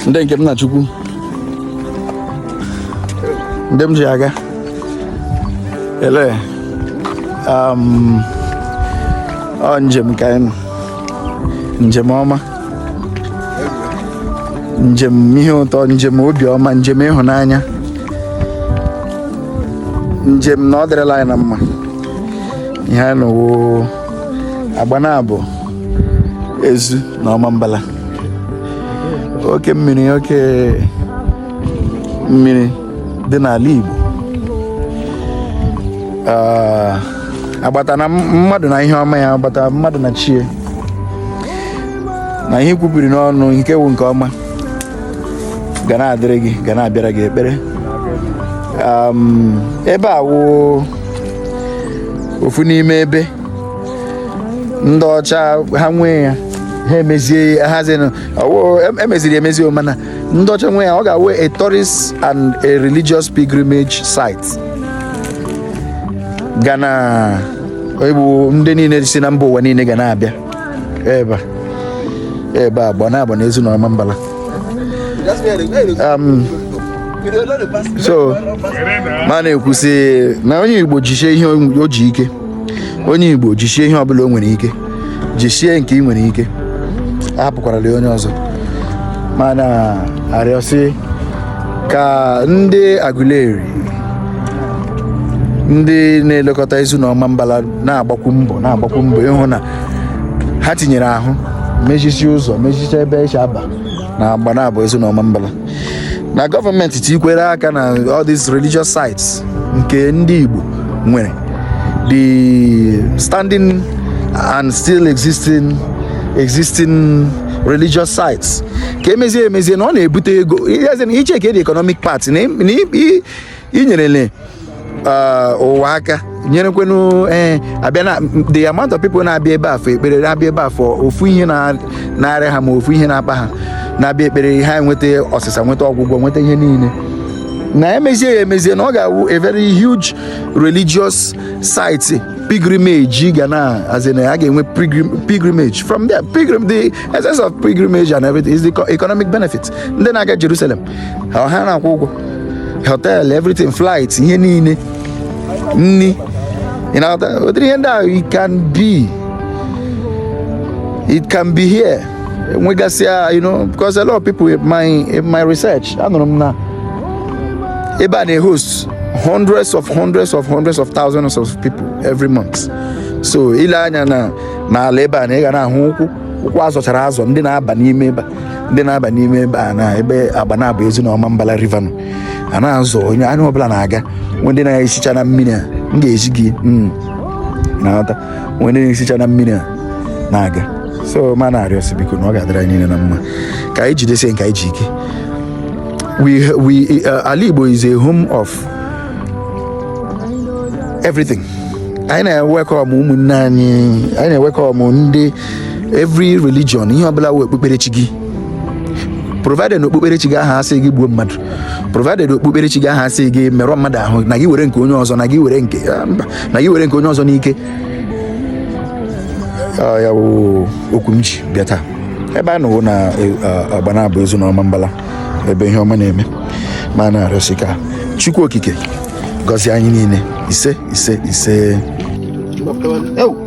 ndị nke m na chukwu ndị m ji aga ele um, ọ njem ka anyị nọ njem ọma njem ihe ụtọ njem obiọma njem ịhụnanya njem na ọ dịrịla anyị na mma ihe anyị nọ wụ Agbanabo Ezu na Ọmambala oke mmiri oke mmiri dị n'ala Igbo Ah, agbata na mmadụ na ihe ọma ya agbata mmadụ na chi ya na ihe i kwubiri n'ọnụ nke wụ nke ọma ga na-adịrị gị ga na-abịara gị ekpere ebe a wụ ofu n'ime ebe ndị ọcha ha nwee ya ha emezie hazinụ emeziri emezi mana ndị ọcha nwee ya ọ ga-awụ a tourist and a religious pilgrimage site ga na-abụ ndị niile si na mba ụwa niile ga na-abịa ebe ebe Agbana- Agbana Ezu na Ọmambala um, so m na-ekwusi na onye igbo jisie ihe o ji ike onye igbo jisie ihe ọbụla o nwere ike jisie nke ị nwere ike ahapụkwarala onye ọzọ m na-arịọsi ka ndị Aguleri ndị na-elekọta Ezu na Ọmambala na-agbakwu mbọ na-agbakwu mbọ ịhụ na ha tinyere ahụ mezisie ụzọ mezisie ebe e si aba na Agbanabo Ezu na Ọmambala na gọọmenti tikwere aka na all these religious sites nke ndị Igbo nwere the standing and still existing existing religious sites ka e mezie emezie na ọ na-ebute ego ị checkie the economic part na inyerele eh, ụwa aka nyerekwenu ee abịa na the amount of people na-abịa ebe a for ekpere na-abịa ebe a for ofu ihe na- na-arịa ha ma ofu ihe na-akpa ha na-abịa ekpere ha enweta ọsịsa nweta ọgwụgwọ nweta ihe niile na e mezie ya emezie na ọ ga-awụ a very huge religious site pilgrimage ga na as in a ga-enwe pilgrim- pilgrimage from there pilgrim the essence of pilgrimage and everything is the co- economic benefit ndị na-aga Jerusalem ha na-akwụ ụgwọ hotel everything flight ihe niile nni ị na-aghọta ụdịrị ihe ndị ahụ it can be it can be here nwegasịa you know because a lot of people in my in my research anụrụ m na ebe a na-host hundreds of hundreds of hundreds of thousands of people every month so i lee anya n'ala ebe a na ị ga na-ahụ ụkwụ ụkwụ azọchara azọ ndị na-aba n'ime ebe a ndị na-aba n'ime ebe a na ebe agbanabọ ezu na ọmambala river nọ a na-azụ onye anya ọbụla na-aga nwee ndị na-esicha na mmiri a m ga-esi gị mm, na-aghọta nwee ndị na-esicha na mmiri a na-aga so ma na-arịọ sị biko na ọ ga-adịrị anyị niile na mma ka anyị jidesie nke anyị ji ike we, we, uh, ala igbo is a home of everything anyị na-ewelcome ụmụnne anyị anyị na-ewelcome ndị every religion ihe ọbụla wụ okpukperechi gị provided na okpukperechi gị ahụ asịghị gbuo mmadụ provided okpukperechi gị ahụ asịghị merụọ mmadụ ahụ na gị were nke onye ọzọ na gị were nke ah, mba, na gị were nke onye ọzọ n'ike Ah, ya wụ okwu m ji bịa taa ebe a nọ wụ na eh, ah, agbanabọ ezu na ọmambala ebe ihe ọma na-eme ma na-arịọ sị ka chukwu okike gọzie anyị niile ise ise ise